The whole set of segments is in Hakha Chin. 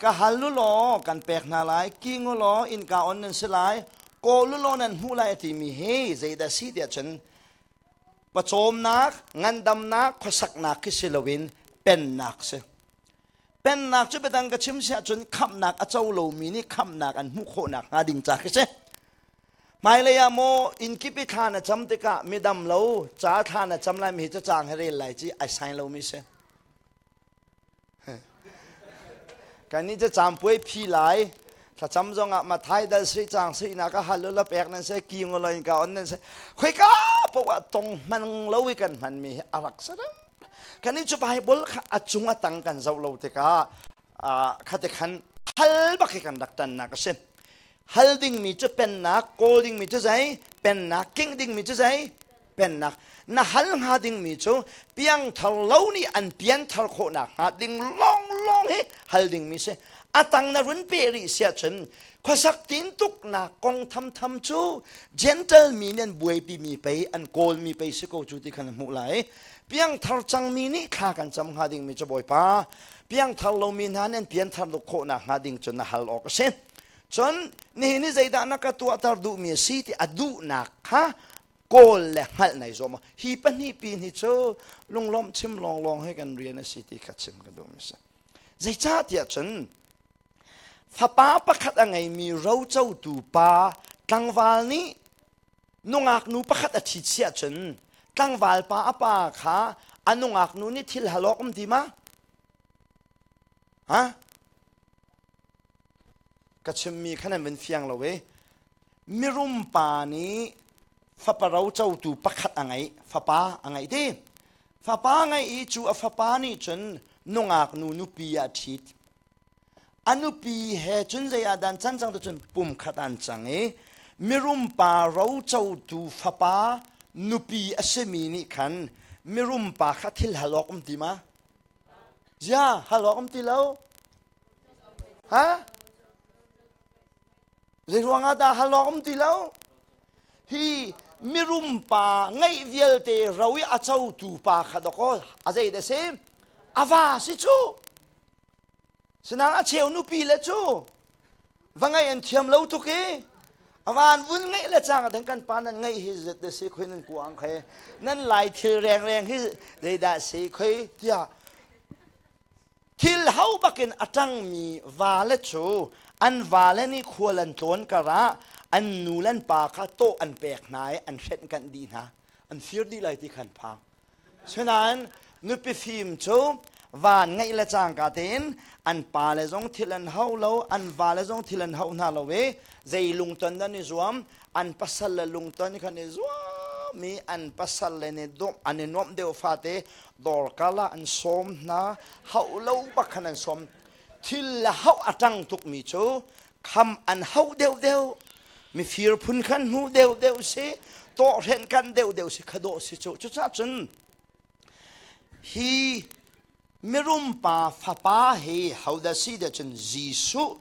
Ka hal u law kan pek hna lai, king u law innka on nan si lai, kawl u law nan hmuh lai a timi hi zeidah a si tiah cun pawcawmnak, ngandamnak, khuasaknak khi si loin pennak si. Pennak cu biadang ka chim si ahcun khamhnak a co lomi nih khamhnak an hmuh khawh nakhnga ding ca khi si. Hmailei ah maw innkip i thla na cam tikah midam lo, ca thla na cam lai mi hi cacang he rel lai ci ai sain lomi si. Kannih cu campuai phi lai thlacam zong ah mathai dal sih cang sih nak a hal la pek nan se ki ngo loin ka on nan se khoi ka po a tong man lo i kan man mi hi a rak sa dam kan ni chu pai bol kha a chung a tang kan zo lo te ka khate khan hal bak hi kan rak tan nak a si hal ding mi cu pennak kawl ding mi cu zai pennak king ding mi cu zai pennak na hal hnga dingmi cu piangthar lo nih an pianthar khawh nakhnga ding lawnglawng hi hal dingmi si a tang na run pe rih si ahcun khuasak tin tuknak kong thamtham cu gentle mi nih an buaipimi pei an kawlmi pei si ko cu ti khan hmuh lai piangthar cangmi nih thla kan cam hnga dingmi cu bawipa piangthar lomi hna nih an pianthar duk khawh nakhnga ding cu na hal awk a si cun nihin hi zeidah na ka tuahter duhmi a si ti a duhnak kha kawl le hngalh nei zuam hi pahnih pi ni cu lunglawm chim lawng lawng he kan rian a si ti kha chim ka duh mi si zeicah tiah cun fapa pakhat a ngeimi rocotu pa tlangval nih nungak nu pakhat a thi chiah cun tlangval pa a pa kha a nungak nu nih thil halawk um ti ma ha ka chimmi kha nan vun fiang lo i mirum pa nih faparo cotu pakhat a ngei fapa a ngei ti fapa ngei i cu a fapa nih cun nungak nu nupi ah ṭhit a nupi he cun zei ah dan can cang cun pum khat an cang i mirum pa rocotu fapa nupi a simi nih khan mirum pa kha thil halawk um ti ma? Zia halawk um ti lo. ha zeiruangah dah hal awk um ti lo hi mirum pa ngeih vialte ro i a cotu pa kha dakaw a zei da si a va si cu sinang a cheu nupi le cu va ngaih an thiam lo tuk i avan vun ngeih le cang den kan pa nan ngeih hi zet de si khoi nan ku ang khe nan lai thil rengreng hi zeidah si khoi tiah thil ho bakin a ṭangmi vale cu an vale nih khual an tlawn karah an nu le an pa kha tawh an pek hna i an hrenkanh dih hna an fir dih lai ti khan phang sinain nupi fim cu van ngeih le cangka tein an pa le zong thil an hau lo an vale zong thil an hau hna lo i zei lungton dan i zuam an pasal le lungton khan i zuam i an pasal le nih dawm an i nuamh deuh fate dorkal ah an sawm hna hau lo bak khan an sawm thil le hau a ṭang tukmi cu kham an hau deuh deuh mifir phun khan hnu deuh deuh si tawhhren kan deuh deuh si khadawh si cu cucah cun hi mirum pa fapa hi hodah si ti cun Jesuh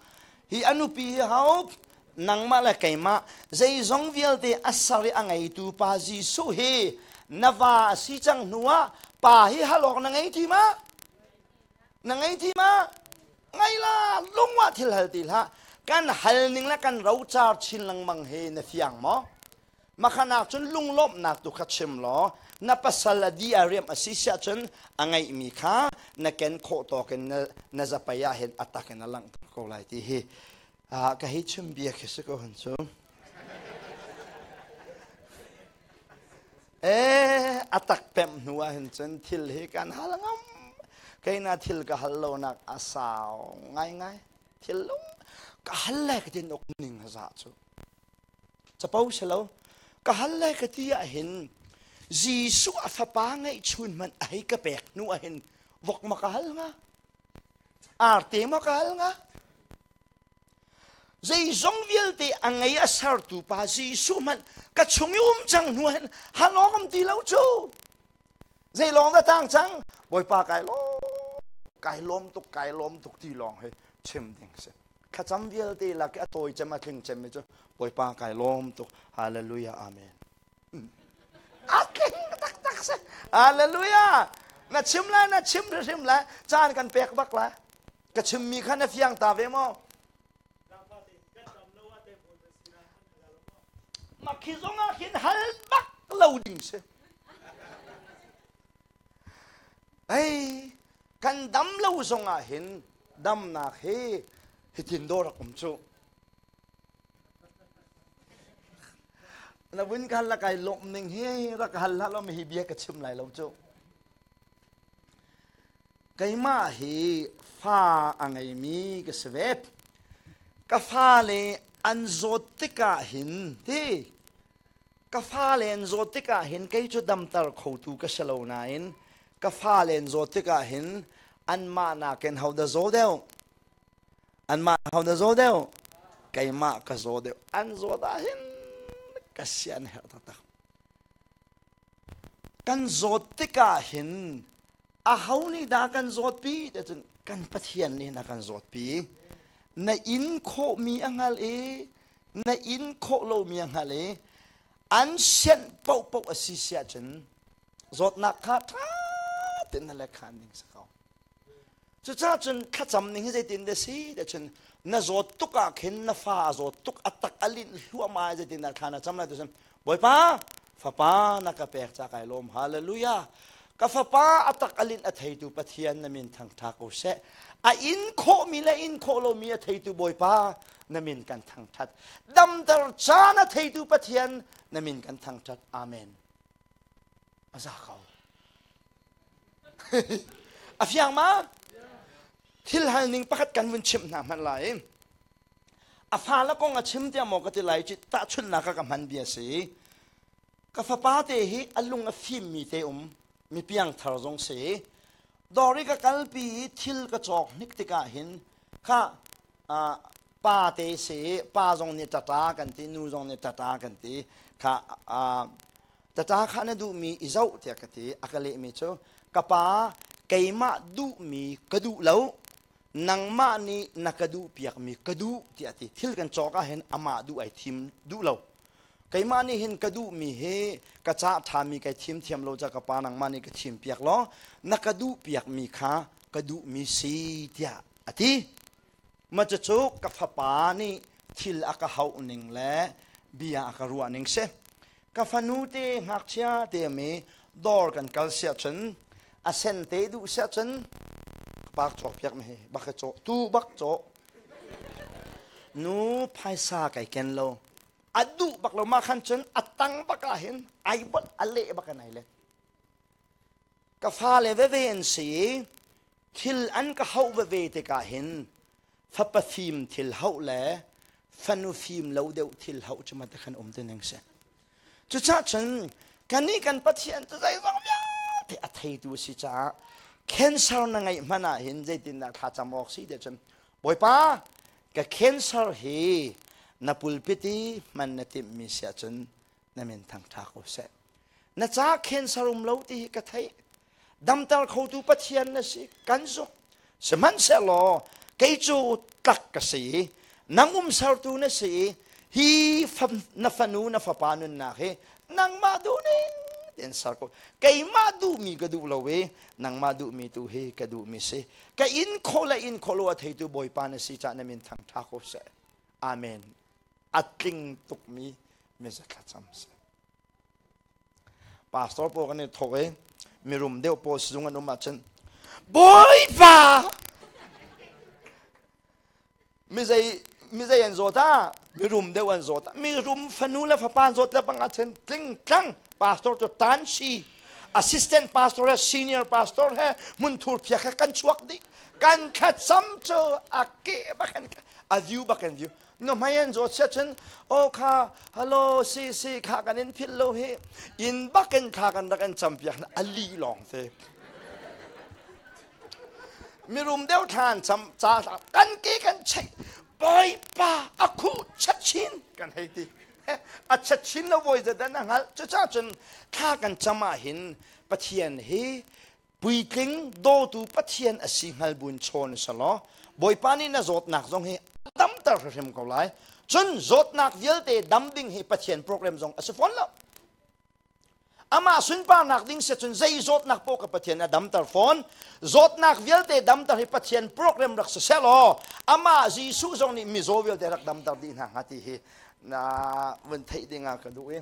hi a nupi hi ho nangmah le keimah zeizong vialte a ser i a ngeitu pa Jesuh hi na va a si cang hnuah pa hi halawk na ngei ti ma na ngei ti ma ngai la lungwah thil hal ti hlah kan hal ning le kan rocar chin lengmang hi na fiang maw Makhanak cun lunglawmhnak tu kha chim law na pasal a di a riam a si siah cun a ngeihmi kha na ken khawh tawk in na, na zapei ah hin a tak in a langhter ko lai ti hi ah ka hi chim bia khi si ko han cu e a tak pemh hnu ah hin cun thil hi kan hal ngam keina thil ka hal lo nak a sau ngai ngai thil lung ka hal le ka tin uk ning a za cu capo si lo ka hal le ka ti ah hin Jesuh a fapa ngeih chun man a hei ka pek hnu ah hin vok ma ka hal nga arte ma ka hal nga zeizong vialte a ngei a sertu pa Jesuh man ka chung i um cang hnu hin halongam ti lo cu zei lawng da tang cang bawipa kai lawm kai lawm tuk kai lawm tuk ti lawng hi chim ding si thlacam vialte lak i a tawi cem a tling cemmi cu Bawipa kai lawm tuk hallelujah amen a tling taktak si hallelujah na chim lai na chim hrimhrim lai caan kan pek bak lai ka chimmi kha na fiang ta ve maw mah khi zong ah hin hal bak lo ding si Pei kan dam lo zong ah hin damnak hi hitin dawr a um cu. Na vun ka hal kai lawm ning hi rak ka hal hlah law hi bia ka chim lai lo cu. Keimah hi fa a ngeimi ka si ve. Ka fale an zawt tikah hin hi ka fale an zawt tikah hin kei cu damter khotu ka si lo nain ka fale an zawt tikah hin anmah nakin ho da zaw deuh anmah ho da zaw deuh keimah ka zaw deuh an zawt ah hin ka si an herh taktak kan zawt tikah hin aho nih dah kan zawtpi te cun kan pathian nih na kan zawtpi na in khawhmi a hngal i na in khawh lomi hna le an sianh paohpaoh a si si ahcun zawtnak kha ṭha tein na lekhan ding si ko cucaah cun thlacam ning hi zeitin dah si ti cun na zawt tuk ah khin na fa a zawt tuk a tak a linh hluahmah zeitin dah thla na cam lai ti cun bawipa fapa na ka pek ca kai lawm hallelujah ka fapa a tak alin a theitu pathian na min thangtha ko se a in khawhmi le in khawh lomi a theitu bawipa na min kan thangthat damdar ca na theitu pathian na min kan thangthat amen a za ko a fiang ma thil hal ning pakhat kan vun chimh hna hmanh lai A fale kong a chim tiah maw ka ti lai cu tahchunhnak ah ka hman bia si ka fapa te hi a lung a fim mi te um mi piangthar zong si dori ka kalpi i thil ka cawk hnik tikah hin kha uh, pa te si pa zong nih tata kan ti nu zong nih tata kan ti kha uh, tata kha na duh mi i zoh tiah ka ti a ka leh mi cu ka pa keimah duh mi ka duh lo nangmah nih na ka duhpiakmi ka duh tiah ti thil kan cawk ah hin amah duh ai thim duh lo keimah nih hin ka duhmi hi ka cah ṭhami kai thim thiam lo ca ka pa nangmah nih ka thim piak law na ka duhpiakmi kha ka duhmi si tiah a ti maca cu ka fapa nih thil a ka hauh ning le bia a ka ruah ning si ka fanu te ngakchia te mi dawr kan kal sia cun a sen te duh sia cun park caw piak mi hi bak caw tu bak caw nu phaisa kai ken lo a duh bak lo ma khan cun a tang bak ah hin ai bot a leh bak an ai let ka fale veve an si i thil an ka hauh veve tikah hin fapa fim thil hauh le fanu fim lo deuh thil hauh cu mata khan um te ning si cucah cun kannih kan pathian cu zeizong vialte a theitu a si caah cancer na ngeih hmanh ah hin zeitindah thla cam awk si te cun bawipa ka cancer hi na pulpiti hman na timhmi sia cun na min thangṭha ko seh na ca khen sarum lo ti hi ka theih damter khotu pathian na si kan zuk sihmanhsehlaw kei cu tlak ka si nang um sertu na si hi na fanu na fapa nunnak hi nangmah duhning tin ser ko keimah duhmi ka duh lo i nangmah duhmi tu hi ka duhmi si ka in kho le in kho lo a theitu bawipa na si cah na min thangṭha ko seh amen a tling tukmi message thlacam si pastor pawl kan i thawk i mirum deuh pawl sizung an um ahcun bawipa mizei mizei an zawt ah mirum deuh an zawt ah mirum fanu le fapa an zawt le bang ahcun tling tlang pastor cu tan si assistant pastor he senior pastor he hmunthur phiak he kan chuak dih kan thlat sam cu a ke bak an a view bak an view na hmai an zawt siah cun aw kha halo si si kha kan in philh lo hi in bak in kha kan rak in cam piak a li lawng te mirum deu than cham cha kan ki kan chei boipa a khu chat chin kan hei ti a chat chin lo voi zedan a ngal cuca cun kha kan chama hin pathian hi puitling dawtu pathian asi hngal buin chawn selaw bawipa nih na zawtnak zong hi a tamter hrimhrim ko lai cun zawtnak vialte dam ding hi pathian program zong asi fawn lo amah sunparnak ding se cun zei zawtnak paw ka pathian a damter fawn zawtnak vialte damter hi pathian program rak si selaw amah jesuh zong nih mizaw vialte rak damter dih hna hnga ti hi na vun theih ding ah ka duh i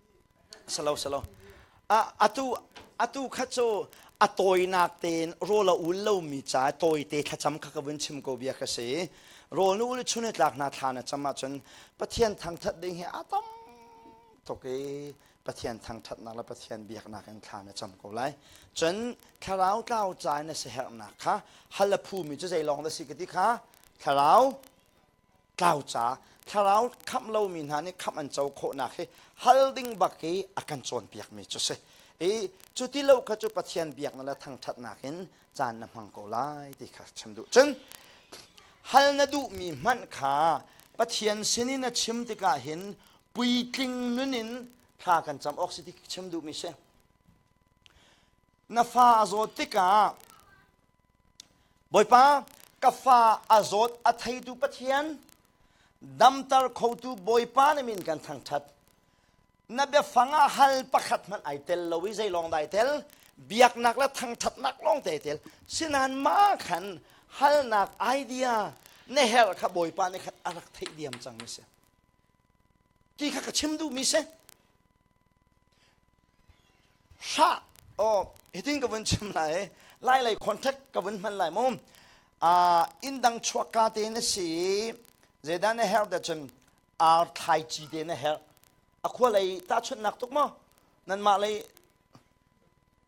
Salo salo. A atu atu khat cu a tawinak tein rawl a ul lomi ca tawite thlacam kha ka vun chim ko bia ka si. Rawl nu le chun tlak hna thla na cam ahcun Pathian thangthat ding hi a tam tuk i Pathian thangthatnak le Pathian biaknak in thla na cam ko lai. Cun thlarau tlau ca in na siherhnak kha hal a phumi cu zei lawng dah si ka ti kha thlarau tlau ca thlarau khamh lomi hna nih khamh an co khawhnak hi hal ding bak i a kan cawnpiakmi cu si i cu ti lo kha cu pathian biaknak le thangṭhatnak in caan na hmang ko lai ti kha chim duh cun hal na duhmi hmanh kha pathian sin i na chim tikah hin puitling nun in thla kan cam awk si ti chim duhmi si na fa a zawt tikah Bawipa, ka fa a zawt a theitu Pathian, damter khotu Bawipa nih min kan thangṭhat. Na biafang ah hal pakhat hmanh ai tel lo i zeilawng dai tel, biaknak le thangṭhatnak lawng te tel. Sinain mah khan halnak idea na herh kha Bawipa nih khan a rak theih diam cangmi a si. Ti kha ka chim duhmi si. Hra oh hitin ka vun chim lai lai lei contract ka vun hman lai mu uh, inn dang chuak ka te na si zedan na her da cun ar thlai ci te na her a khua lei ta chun nak tuk mo nan ma lei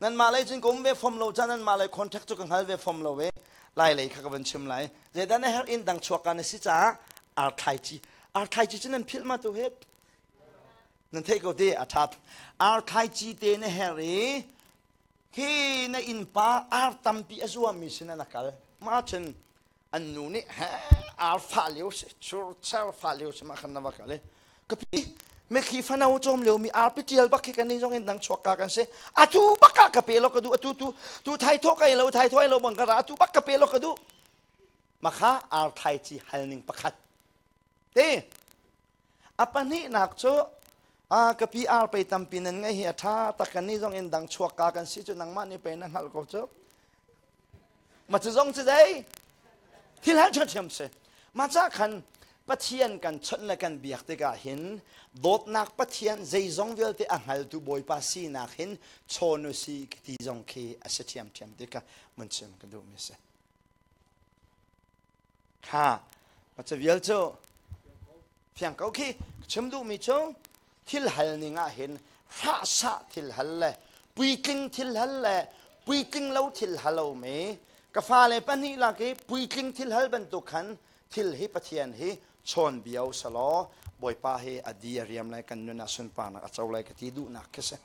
nan ma lei cun kom ve fom lo cha nan ma lei contract chu ka ngal ve fom lo ve lai lei kha ka vun chim lai zedan na her inn dang chuak ka na si cha ar thlai ci ar thlai ci cu nan phil ma tu hep nan theih ko te a ṭhat ar thlaici te na herh i hi na innpa ar tampi a zuammi sinah na kal mah cun an nu nih he ar fah lio si churcher fah lio si mah khan na va kal i kapi mekhi fano cawm lio mi arpi ṭial bak khi kan nih zong in dang chuakka kan si atu baka ka pe lo ka duh atu tu tu thai thawh ka lo thai thawh lo bang kara atu bak ka pe lo ka duh makha ar thai ci hal ning pakhat te A pahnihnak cu a ka pi ar pei tampi nan ngeih hi a ṭha tak kan nih zong in dang chuak ka kan si cu nangmah nih pei na hngalh ko cu ma cu zong cu dei thil han ṭhiamṭhiam si ma ca khan pathian kan chawnh le kan biak tikah hin dawtnak pathian zeizong vialte a hngaltu bawipa sinak hin chawn u si ti zong khi a si ṭhiamṭhiam tikah mun chim ka duhmi si thla pa ca vial cu fiang ko khi chim duhmi cu thil hal ning ah hin fahsa thil hal le puitling thil hal le puitling lo thil halomi ka fale pahnih lak i puitling thil hal bantuk khan thil hi pathian hi chawnbio selaw bawipa hi a di a riam lai kan nun ah sunparnak a co lai ka ti duhnak khi si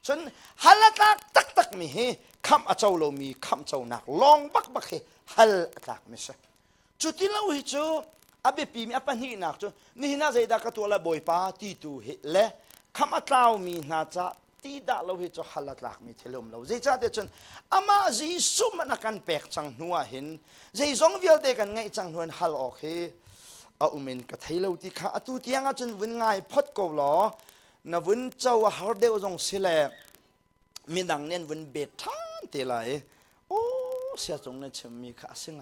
cun hal a tlak taktakmi hi khamh a co lomi khamhconak lawng bakbak hi hal a tlakmi si cuti lo hi cu a biapimi a pahnihnak cu nihin ah zeidah ka tuah le bawipa ti tu hi le kham a tlaumi hna ca ti dah lo hi cu hal a tlakmi thil um lo zeicahtiah cun amah Jesuh man a kan pek cang hnu ah hin zeizong vialte kan ngeih cang hnu in hal awk hi a um in ka thei lo ti kha atu tiang ahcun vun ngai phot ko law na vun co a har deuh zong si le midang nih an vun bet ṭhan te lai i aw sia cung nih a chimmi kha a si hnga.